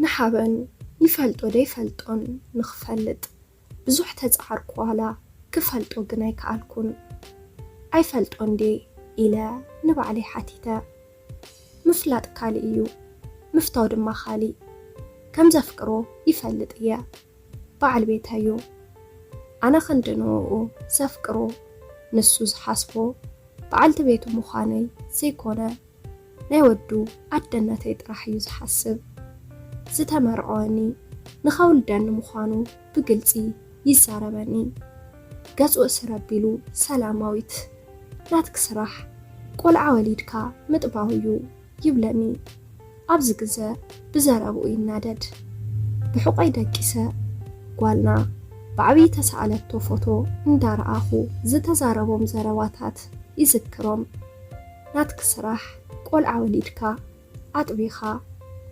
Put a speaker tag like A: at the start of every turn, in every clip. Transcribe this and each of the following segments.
A: ንሓበን ይፈልጦ ደይፈልጦን ንክፈልጥ ብዙሕ ተጻዓርኩ ዋላ ክፈልጦ ግን ኣይከኣልኩን ኣይፈልጦን ድየ ኢለ ንባዕለይ ሓቲተ። ምፍላጥ ካልእ እዩ ምፍታው ድማ ካሊእ ከምዘፍቅሮ ይፈልጥ እየ ባዓል ቤተይ እዩ ኣነ ክንዲ ንኡኡ ዘፍቅሮ ንሱ ዝሓስቦ ባዓልቲ ቤቱ ምዃነይ ዘይኮነ ናይ ወዱ ኣደነተይ ጥራሕ እዩ ዝሓስብ። ዝተመርዐወኒ ንኸውልደኒ ምዃኑ ብግልፂ ይዛረበኒ። ገፁ እስር ኣቢሉ ሰላማዊት ናትኪ ስራሕ ቆልዓ ወሊድካ ምጥባው እዩ ይብለኒ። ኣብዚ ግዘ ብዘረብኡ ይናደድ። ብሕቆይ ደቂሰ ጓልና ብዓብዪ ተሰኣለቶ ፎቶ እንዳረኣኹ ዝተዛረቦም ዘረባታት ይዝክሮም። ናትክ ስራሕ ቆልዓ ወሊድካ ኣጥቢካ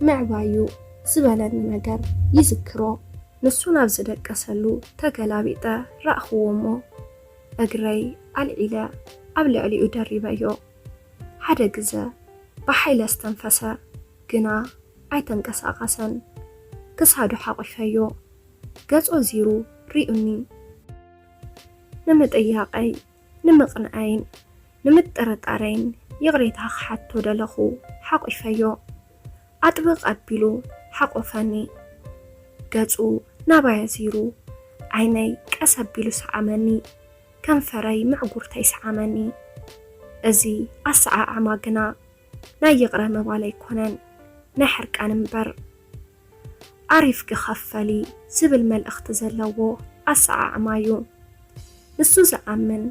A: ምዕባይ ዩ ዝበለኒ ነገር ይዝክሮ ንሱ ናብ ዝደቀሰሉ ተገላቢጠ ራእክዎ እሞ እግረይ ኣልዒለ ኣብ ልዕሊኡ ደሪበዮ ሓደ ግዘ ብሓይሊ ኣስተንፈሰ ግና ኣይተንቀሳቀሰን ክሳዱ ሓቂፈዮ ገጹ ኣዚሩ ሪኡኒ ንምጥያቀይ ንምቕንዐይን ንምጥርጣረይን ይቕሬታ ክሓቶ ደለኹ። ሓቚፈዮ። ኣጥብቕ ኣቢሉ ሓቖፈኒ። ገጹ ናባይ ኣዚሩ ዓይነይ ቀስ ኣቢሉ ሰዓመኒ። ከንፈረይ ምዕጉርተይ ሰዓመኒ። እዚ ኣሰዓዓማ ግና ናይ ይቕረ ምባል ኣይኮነን፣ ናይ ሕርቃን እምበር። ዓሪፍኪ ኸፈሊ ዝብል መልእኽቲ ዘለዎ ኣሰዓዕማ እዩ። ንሱ ዝኣምን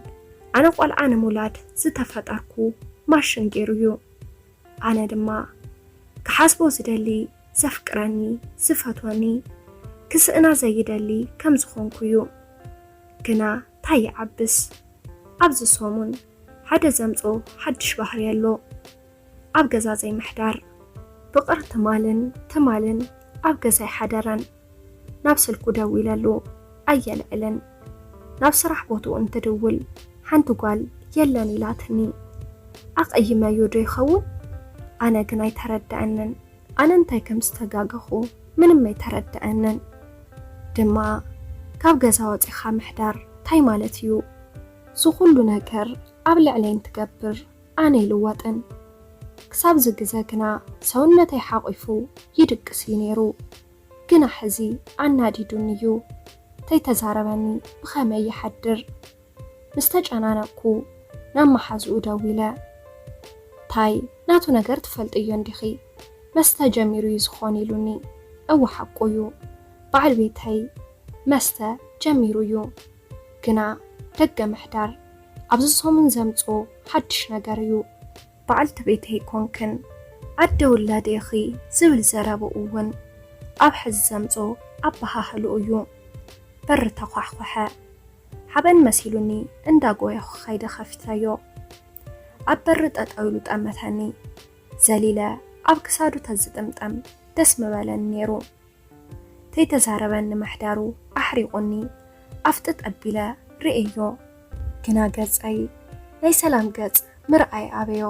A: ኣነ ቆልዓ ንምውላድ ዝተፈጠርኩ ማሽን ገይሩ እዩ። ኣነ ድማ ክሓስቦ ዝደሊ ዘፍቅረኒ፣ ዝፈትወኒ፣ ክስእና ዘይደሊ ከም ዝኾንኩ እዩ። ግና ታይ ይዓብስ ኣብዚ ሰሙን ሓደ ዘምፆ ሓድሽ ባህሪ ኣሎ። ኣብ ገዛ ዘይምሕዳር ፍቕር ትማልን ትማልን ኣብ ገዛ ኣይሓደረን ናብ ስልኩ ደዊለሉ ኣየልዕልን ናብ ስራሕ ቦትኡ እንትድውል ሓንቲ ጓል የለን ኢላትኒ ኣቐይመዮ ዶ ይኸውን ኣነ ግን ኣይተረደኣንን ኣነ እንታይ ከም ዝተጋገኹ ምንም ኣይተረደኣንን ድማ ካብ ገዛ ወጺኻ ምሕዳር ታይ ማለት እዩ ዝኹሉ ነገር ኣብ ልዕለይ እንትገብር ኣነ ኣይልወጥን። ክሳብዚ ግዘ ግና ሰውነተይ ሓቚፉ ይድቅስ እዩ ነይሩ። ግና ሕዚ ኣናዲዱኒ እዩ። ተይተዛረበኒ ብኸመይ ይሓድር? ምስ ተጨናነቕኩ ናብ መሓዝኡ ደዊለ፣ ታይ ናቱ ነገር ትፈልጥዮ እንዲኺ? መስተ ጀሚሩ እዩ ዝኾን ኢሉኒ። እወ ሓቁ እዩ። በዓል ቤተይ መስተ ጀሚሩ እዩ። ግና ደገ ምሕዳር ኣብዚ ሰሙን ዘምጽኦ ሓድሽ ነገር እዩ። በዓልቲ ቤት ኣይኮንክን ኣደ ውላድ ኢኺ ዝብል ዘረባኡ እውን ኣብ ሕዚ ዘምጽኦ ኣበሃህልኡ እዩ። በሪ ተዃሕኾሐ። ሓበን መሲሉኒ እንዳ ጎየኹ ከይደ ከፊተዮ። ኣብ በሪ ጠጠው ኢሉ ጠመተኒ። ዘሊለ ኣብ ክሳዱ ተዝጥምጠም ደስ ምበለኒ ነይሩ። ከይተዛረበኒ ምሕዳሩ ኣሕሪቑኒ ኣፍጥጥ ኣቢለ ርእየዮ ግና ገጸይ ናይ ሰላም ገጽ ምርኣይ ኣበዮ።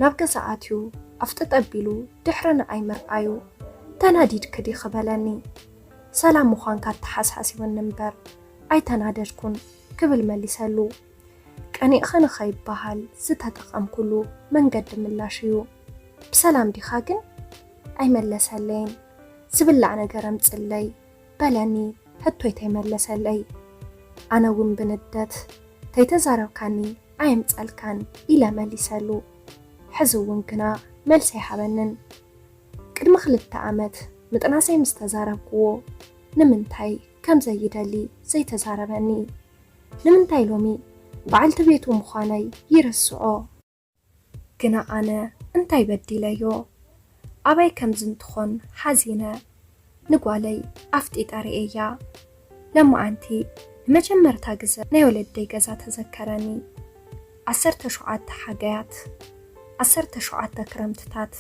A: ናብ ገዛ ኣትዩ ኣፍጥጥ ኣቢሉ ድሕሪ ንኣይ ምርኣዩ ተናዲድኪ ዲኺ በለኒ። ሰላም ምዃንካ ኣተሓሳሲቡኒ እምበር ኣይተናደድኩን ክብል መሊሰሉ። ቀኒእኻ ንኸይበሃል ዝተጠቐምኩሉ መንገዲ ምላሽ እዩ። ብሰላም ዲኻ ግን? ኣይመለሰለይን። ዝብላዕ ነገር ኣምፅለይ በለኒ ሕቶይ ተይመለሰለይ። ኣነ እውን ብንደት ተይተዛረብካኒ ኣየምፀልካን ኢለ መሊሰሉ። ሕዚ እውን ግና መልሲ ኣይሃበንን። ቅድሚ ክልተ ኣመት ምጥናሰይ ምስ ተዛረብኩዎ ንምንታይ ከምዘይደሊ ዘይተዛረበኒ። ንምንታይ ሎሚ በዓልቲ ቤቱ ምዃነይ ይርስዖ? ግና ኣነ እንታይ በዲለዮ? ኣበይ ከም ዝንትኾን ሓዚነ ንጓለይ ኣፍጢጠ ርእየያ። ለማዓንቲ ንመጀመርታ ግዘ ናይ ወለደይ ገዛ ተዘከረኒ። ዓሰርተ ሸውዓተ ሓጋያት፣ ዓሰርተ ሸውዓተ ክረምትታት፣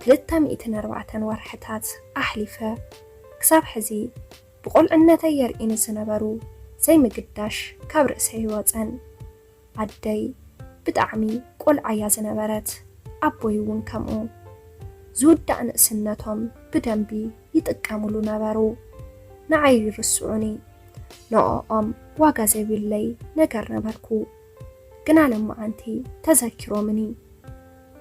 A: ክልተ ሚእትን ኣርባዕተን ወርሕታት ኣሕሊፈ ክሳብ ሕዚ። ብቆልዕነተይ የርኢኒ ስነበሩ ዘይምግዳሽ ካብ ርእሰይ ኣይወጸን ኣደይ ብጣዕሚ ቆልዓ እያ ዝነበረት ኣቦይ እውን ከምኡ ዝውዳእ ንእስነቶም ብደንቢ ይጥቀምሉ ነበሩ ንዓይ ይርስዑኒ ንኦኦም ዋጋ ዘይብለይ ነገር ነበርኩ ግና ለማዓንቲ ተዘኪሮምኒ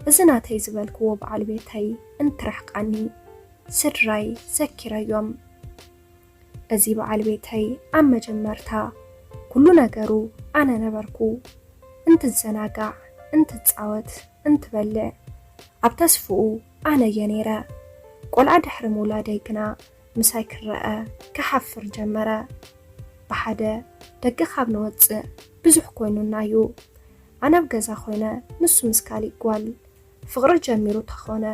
A: እዚ ናተይ ዝበልክዎ በዓል ቤተይ እንትርሕቃኒ ስድራይ ዘኪረዮም። እዚ በዓል ቤተይ ኣብ መጀመርታ ኩሉ ነገሩ ኣነ ነበርኩ። እንትዘናጋዕ፣ እንትጻወት፣ እንትበልዕ ኣብ ተስፍኡ ኣነ እየ ነይረ። ቆልዓ ድሕሪ ምውላደይ ግና ምሳይ ክረኣ ክሓፍር ጀመረ። ብሓደ ደገ ካብ ንወጽእ ብዙሕ ኮይኑና እዩ። ኣነ ኣብ ገዛ ኮይነ ንሱ ምስ ካሊእ ጓል። ፍቅሪ ጀሚሩ ተኾነ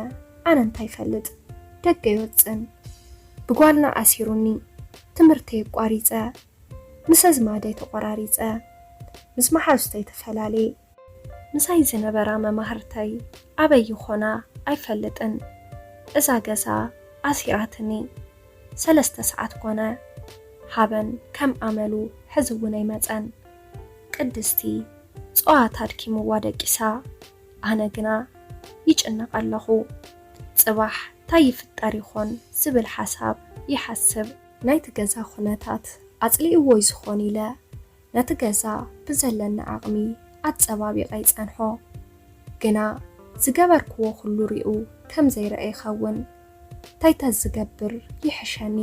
A: ኣነ እንታይ ይፈልጥ ደገ ይወጽእን ብጓልና ኣሲሩኒ ትምህርተይ ኣቋሪጸ ምስ ኣዝማደይ ተቆራሪጸ ምስ ማሓዙተይ ተፈላልየ። ምሳይ ዝነበራ መማህርተይ ኣበይ ይኾና ኣይፈልጥን እዛ ገዛ ኣሲራትኒ ሰለስተ ሰዓት ኮነ ሃበን ከም ኣመሉ ሕዚ ውን ኣይመጸን ቅድስቲ ጸዋታ ኣድኪምዋ ደቂሳ። ኣነ ግና ይጭነቕ ኣለኹ፣ ጽባሕ ታይ ይፍጠር ይኾን ዝብል ሓሳብ ይሓስብ። ናይቲ ገዛ ኩነታት ኣጽሊእዎ ይዝኾን ኢለ ነቲ ገዛ ብዘለኒ ዓቕሚ ኣጸባቢቐ ይጸንሖ። ግና ዝገበርክዎ ኩሉ ሪኡ ከም ዘይረኣ ይኸውን። ታይ ተዝገብር ይሕሸኒ?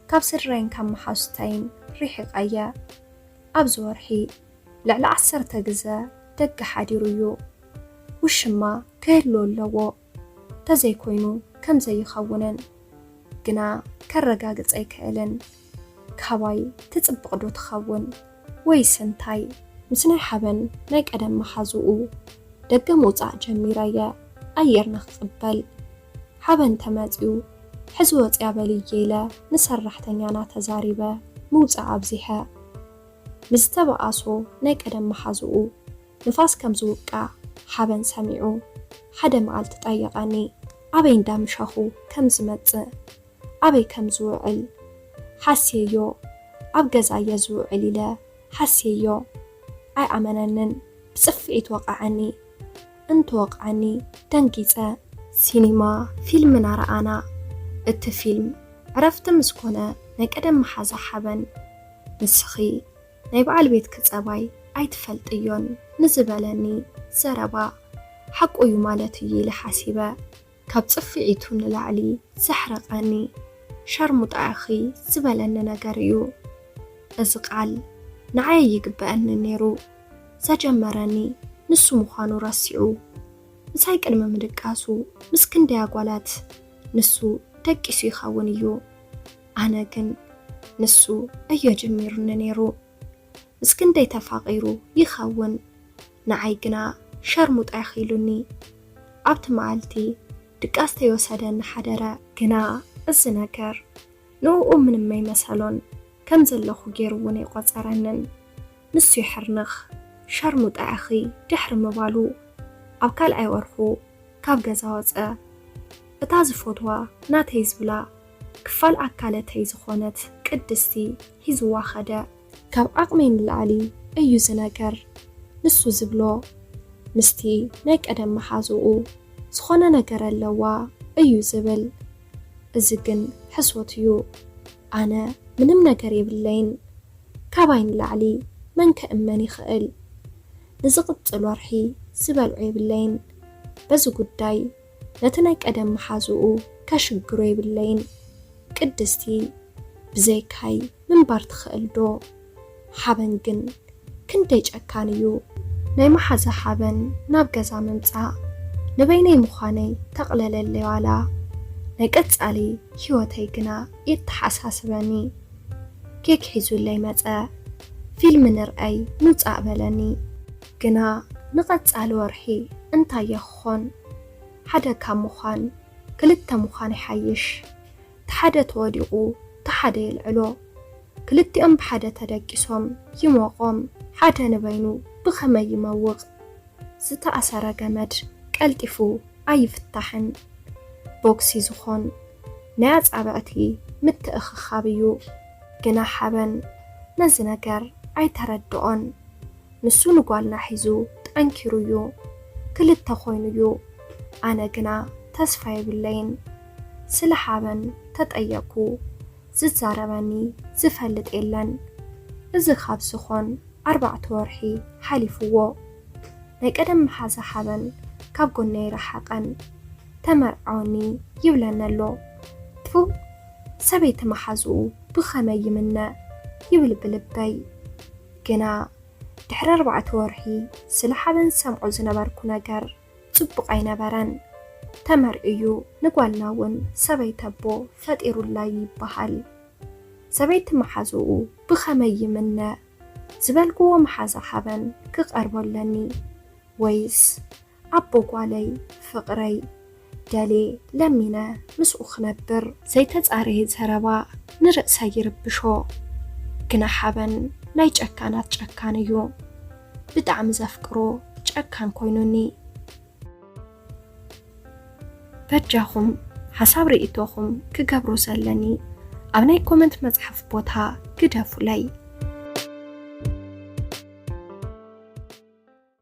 A: ካብ ስድራይን ካብ መሓዙተይን ሪሒቐ እየ። ኣብዚ ወርሒ። ልዕሊ ዓሰርተ ግዘ ደገ ሓዲሩ እዩ። ውሽማ ክህሉ ኣለዎ ተዘይኮይኑ ከም ዘይኸውንን ግና ከረጋግፅ ኣይክእልን። ካባይ ትፅብቕ ዶ ትኸውን ወይስ እንታይ? ምስ ናይ ሓበን ናይ ቀደም መሓዝኡ ደገ ምውፃእ ጀሚረ እየ ኣየር ንክቕበል። ሓበን ተመፅዩ ሕዚ ወፅያ በልዬ ኢለ ንሰራሕተኛና ተዛሪበ ምውፃእ ኣብዚሐ። ምስ ዝተበኣሶ ናይ ቀደም መሓዝኡ ንፋስ ከም ዝውቃዕ ሓበን ሰሚዑ ሓደ መኣልቲ ጠየቐኒ። ኣበይ እንዳ ምሻኹ ከም ዝመጽእ ኣበይ ከም ዝውዕል ሓስየዮ ኣብ ገዛ እየ ዝውዕል ኢለ ሓስየዮ። ኣይኣመነንን ብጽፍዒት ወቐዐኒ። እንትወቕዐኒ ደንጊጸ። ሲኒማ ፊልም እናረኣና። እቲ ፊልም ዕረፍቲ ምስ ኮነ ናይ ቀደም መሓዛ ሓበን ንስኺ ናይ በዓል ቤትኪ ጸባይ ኣይትፈልጥዮን ንዝበለኒ ዘረባ ሓቁ እዩ ማለት እዩ ኢለ ሓሲበ። ካብ ጽፍዒቱ ንላዕሊ ዘሕረቐኒ ሻርሙጣ ኢኺ ዝበለኒ ነገር እዩ። እዚ ቃል ንዓይ ኣይግበኣንን ነይሩ። ዘጀመረኒ ንሱ ምዃኑ ረሲዑ ምሳይ ቅድሚ ምድቃሱ ምስ ክንደይ ኣጓላት ንሱ ደቂሱ ይኸውን እዩ። ኣነ ግን ንሱ እዮ ጀሚሩኒ ነይሩ ምስ ክንደይ ተፋቂሩ ይከውን ንዓይ ግና ሸርሙጣ ኢኪ ኢሉኒ ኣብቲ መኣልቲ ድቃስ ተይወሰደኒ ሓደረ። ግና እዚ ነገር ንኡኡ ምንም ኣይመሰሎን ከም ዘለኩ ገይሩ ውን ኣይቆጸረንን ንሱ ይሕርንክ ሸርሙጣ ኢኪ ድሕሪ ምባሉ ኣብ ካልኣይ ወርኩ ካብ ገዛ ወጸ እታ ዝፎትዋ ናተይ ዝብላ ክፋል ኣካለተይ ዝኾነት ቅድስቲ ሒዝዋ ከደ። ካብ ዓቕመይ ንላዕሊ እዩ ዝነገር ንሱ ዝብሎ ምስቲ ናይ ቀደም መሓዝኡ ዝኾነ ነገር ኣለዋ እዩ ዝብል እዚ ግን ሕሶት እዩ ኣነ ምንም ነገር የብለይን ካባይ ንላዕሊ መን ክእመን ይኽእል ንዝቕጽል ወርሒ ዝበልዖ የብለይን በዚ ጉዳይ ነቲ ናይ ቀደም መሓዝኡ ከሽግሮ የብለይን። ቅድስቲ ብዘይካይ ምንባር ትኽእል ዶ? ሓበን ግን ክንደይ ጨካን እዩ። ናይ መሓዛ ሓበን ናብ ገዛ ምምጻእ ንበይነይ ምዃነይ ተቕለለለይ ዋላ ናይ ቀጻሊ ሂወተይ ግና የተሓሳስበኒ። ኬክ ሒዙለይ መጸ። ፊልም ንርኣይ ምምጻእ በለኒ። ግና ንቐጻሊ ወርሒ እንታይ'የ ክኾን? ሓደ ካብ ምዃን ክልተ ምዃን ይሓይሽ። እቲ ሓደ ተወዲቑ እቲ ሓደ የልዕሎ። ክልቲኦም ብሓደ ተደቂሶም ይሞቖም። ሓደ ንበይኑ ብኸመይ ይመውቕ? ዝተኣሰረ ገመድ ቀልጢፉ ኣይፍታሕን። ቦግሲ ዝኾን ናይ ኣጻብዕቲ ምትእኽኻብ እዩ። ግና ሓበን ነዚ ነገር ኣይተረድኦን። ንሱ ንጓልና ሒዙ ጠንኪሩ እዩ ክልተ ኮይኑ እዩ ኣነ ግና ተስፋ የብለይን ስለ ሓበን ተጠየቅኩ ዝዛረበኒ ዝፈልጥ የለን እዚ ካብ ዝኮን ኣርባዕተ ወርሒ ሓሊፍዎ ናይ ቀደም መሓዛ ሓበን ካብ ጎነይ ረሓቀን ተመርዓወኒ ይብለኒ ኣሎ ትፉ ሰበይቲ መሓዝኡ ብከመይ ይምነ ይብል ብልበይ። ግና ድሕሪ ኣርባዕተ ወርሒ ስለ ሓበን ዝሰምዖ ዝነበርኩ ነገር ጽቡቕ ኣይነበረን። ተመር እዩ ንጓልና እውን ሰበይቲ ኣቦ ፈጢሩላ እዩ ይበሃል። ሰበይቲ መሓዝኡ ብኸመይ ይምነ? ዝበልክዎ መሓዛ ሓበን ክቐርቦ ኣለኒ ወይስ ኣቦ ጓለይ ፍቕረይ ደልየ ለሚነ ምስኡ ክነብር። ዘይተጻረየ ዘረባ ንርእሰይ ይርብሾ ግና ሓበን ናይ ጨካናት ጨካን እዩ ብጣዕሚ ዘፍቅሮ ጨካን ኮይኑኒ። በጃኹም ሓሳብ ሪኢቶኹም ክገብሮ ዘለኒ ኣብ ናይ ኮመንት መጽሓፍ ቦታ ግደፉለይ።